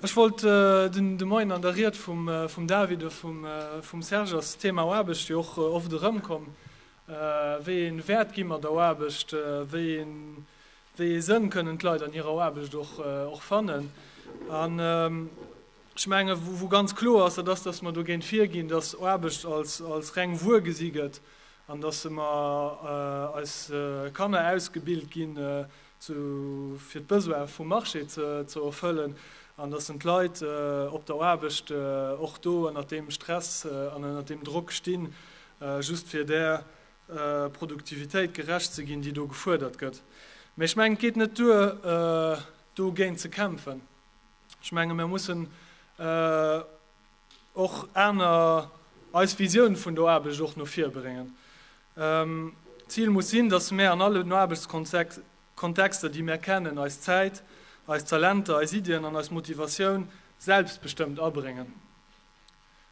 Ech wollt de Moien an der Ried vum David a vum Serge ass d'Thema Aarbecht jo och oft erëmkomm. Wéi ee Wäert gi mer der Aarbecht? Wéi ee Sënn kënnen d'Leit an hirer Aarbecht och fannen? An ech menge wou ganz kloer ass, dat ass, datt mer dogéint virginn, datt Aarbecht als reng Wuer gesi gëtt an datt mer eis Kanner ausgebilt ginn, zu fir d'Besoin vum Marché ze erfëllen an dass en d'Leit op der Aarbecht och do ënnert deem Stress an ënnert deem Drock stinn, just fir där Produktivitéit gerecht ze ginn, déi do gefuerdert gëtt. Mä ech mengen, et geet net duer, dogéint ze kämpfen. Ech menge, mir mussen. och aner eis Visioun vun der Aarbecht och no vir bréngen. D'Zil muss sinn, datt mär an allen Aarbechtskontexter, déi mär kennen, eis Zäit, eis Talenter, eis Iddien an eis Motivatioun selbstbestëmmt abréngen.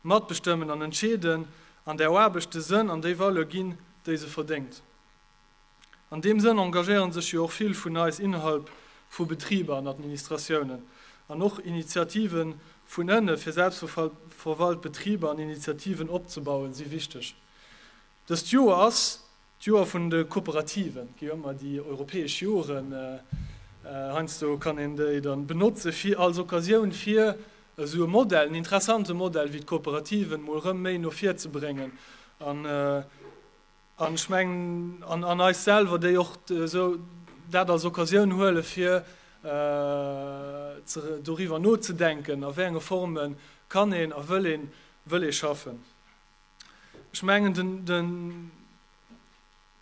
Matbestëmmen an entscheeden an der Aarbecht de Sënn an déi Valeur ginn, déi se verdéngt. An deem Sënn engagéieren sech jo och vill vun eis innerhalb vu Betriber an Administratiounen an och Initiative vun ënne fir selbstverwalt Betriber an Initiativen opzebauen, si wichteg. Dëst Joer ass d'Joer vun de Kooperativen, et gi jo ëmmer déi europäesch Joren, heiansdo kann een déi dann benotze fir als Occasioun fir esou e Modell, en interessante Modell wéi d'Kooperativen, mol rëm méi no vir ze bréngen an, An ech mengen, an eis selwer, déi och esou dat als Occasioun huelen, fir doriwwer nozedenken, a wéi enge Forme kann een a wëll een, wëll ee schaffen. Ech mengen, den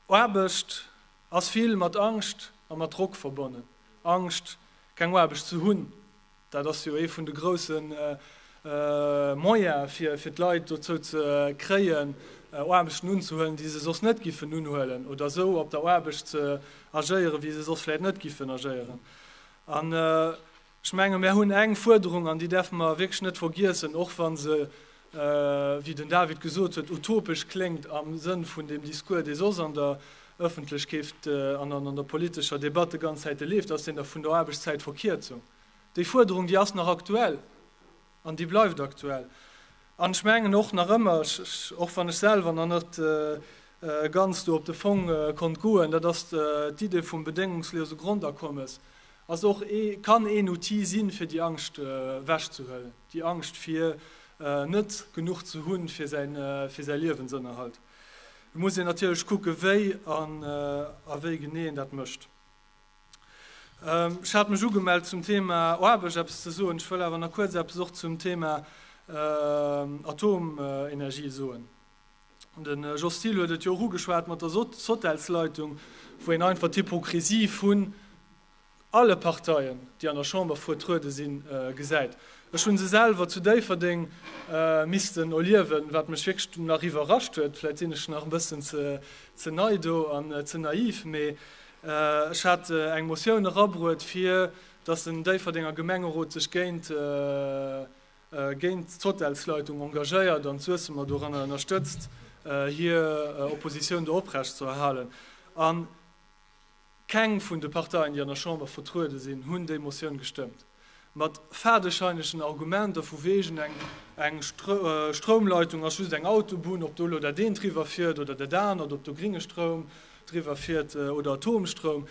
Aarbecht ass vill mat Angscht a mat Drock verbonnen. Angscht, keng Aarbecht ze hunn. Dat ass jo ee vun de grousse Moyene fir d'Leit dozou ze kréien, Aarbechten unzehuelen, déi se soss net giffen unhuelen, oder esou op der Aarbecht ze agéieren, wéi se soss vläicht net giffen agéieren. An ech menge mir hunn eng Fuerderung, an déi däerfe mer wierklech net vergiessen, och wa se, wéi den David gesot huet, utopesch kléngt am Sënn vun deem Discours, dee soss an der Ëffentlechkeeft an an der politescher Debatt de ganz Zäite leeft, ass deen vun der Aarbechtszäitverkierzung. Déi Fuerderung, déi ass nach aktuell an déi bleift aktuell. An ech mengen och nach ëmmer, och wann ech selwer nach net ganz do op de Fong konnt goen, dat ass d'Idee vum bedéngungslose Grondakommes, ass och, kann een Outil sinn, fir déi Angscht ewechzehuelen, déi Angscht, fir net genuch ze hu fir säi Liewensënnerhalt. Et muss een natierlech kucken, wéi a wéi genee een dat mécht. Ech hat mech ugemellt zum Thema Aarbecht eppes ze soen. Ech wëll awer nach kuerz eppes och zum Thema Atomenergie soen. De Jos Thill huet et jo och ugeschwat mat der Sotelsleitung, wou een einfach d'Hypokrisie vun alle Parteien, déi an der Chamber vertruede sinn, gesäit. Ech hu se selwer zu Déifferdeng missten erliewen, wat mech wierklech nach iwwerrascht huet. Vläicht sinn ech nach e bëssen ze nei do an ze naiv, mee Ech hat eng Motioun erabruet, fir datt den Déifferdenger Gemengerot sech géint d'Hotelsleitung engagéiert an d'Suessemer doranner ënnerstëtzt, hir Oppositioun do oprecht ze erhalen. A keng vun de Parteien, déi an der Chamber vertruede sinn, hunn déi Motioun gestëmmt. Mat fadescheinegen Argumenter vu wegen eng Stroumleitung ass just eng Autobunn, ob do elo dat eent driwwer fiert oder dat anert, ob do gringe Stroum driwwer fiert oder Atomstroum,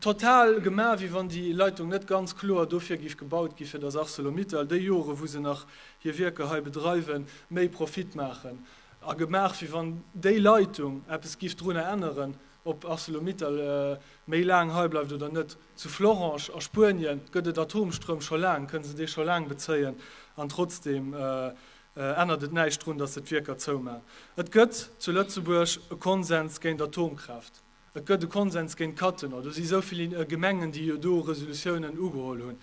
total gemaach wéi wann déi Leitung net ganz kloer dofir géif gebaut ginn, fir datt Arcelor-Mittal déi Jore wou se nach hir Wierker hei bedreiwen, méi Profit maachen a gemaach wéi wann déi Leitung eppes giff drunner änneren, ob Arcelor-Mittal méi laang hei bleift oder net. Zu Florange a Spuenien gëtt et Atomstroum scho laang, kënne se dee scho laang bezéien, an trotzdeem ännert et näischt drun, datt se d'Wierker zoumaachen. Et gëtt zu Lëtzebuerg e Konsens géint Atomkraaft, et gëtt e Konsens géint Cattenom, do si esou vill Gemengen, déi jo do Resolutiounen ugeholl hunn,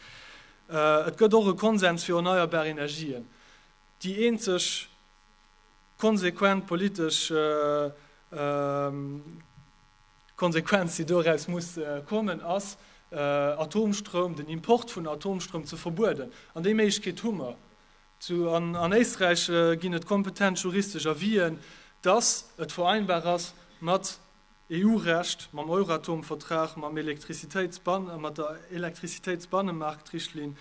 et gëtt och e Konsens fir erneierbar Energien. Déi eenzeg konsequent politesch. D'Konsequenz, déi doraus muss kommen, ass, Atomstroum, den Import vun Atomstroum ze verbueden. An déi Méiglechkeet hu mer. Zu, an Éisträich ginn et kompetent juristesch Avisen, dass et vereinbar ass mat EU-Recht, mam Euratom-Vertrag, mam Elektrizitéits-, mat der Elektrizitéitsbannemarktrichtlinn,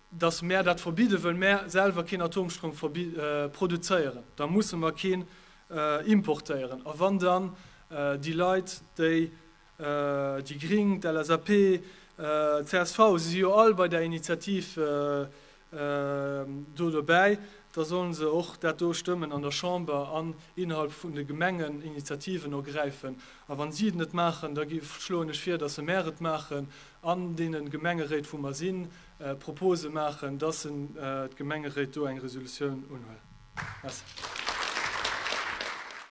datt mär dat verbidden, wëll mär selwer keen Atomstroum produzéieren, da musse mer keen importéieren. A wann dann déi Leit, déi déi Gring, d'LSAP, csv, se si jo all bei där Initiativ do dobäi, da sollen se och dat do stëmmen an der Chamber an innerhalb vun de Gemengen Initiativen ergräifen. A wann si et net maachen, da schloen ech vir, datt se mär et maachen an deene Gemengeréit, wou mer sinn, Propose maachen, dass en d'Gemengeréit do eng Resolutioun unhuelen. Merci.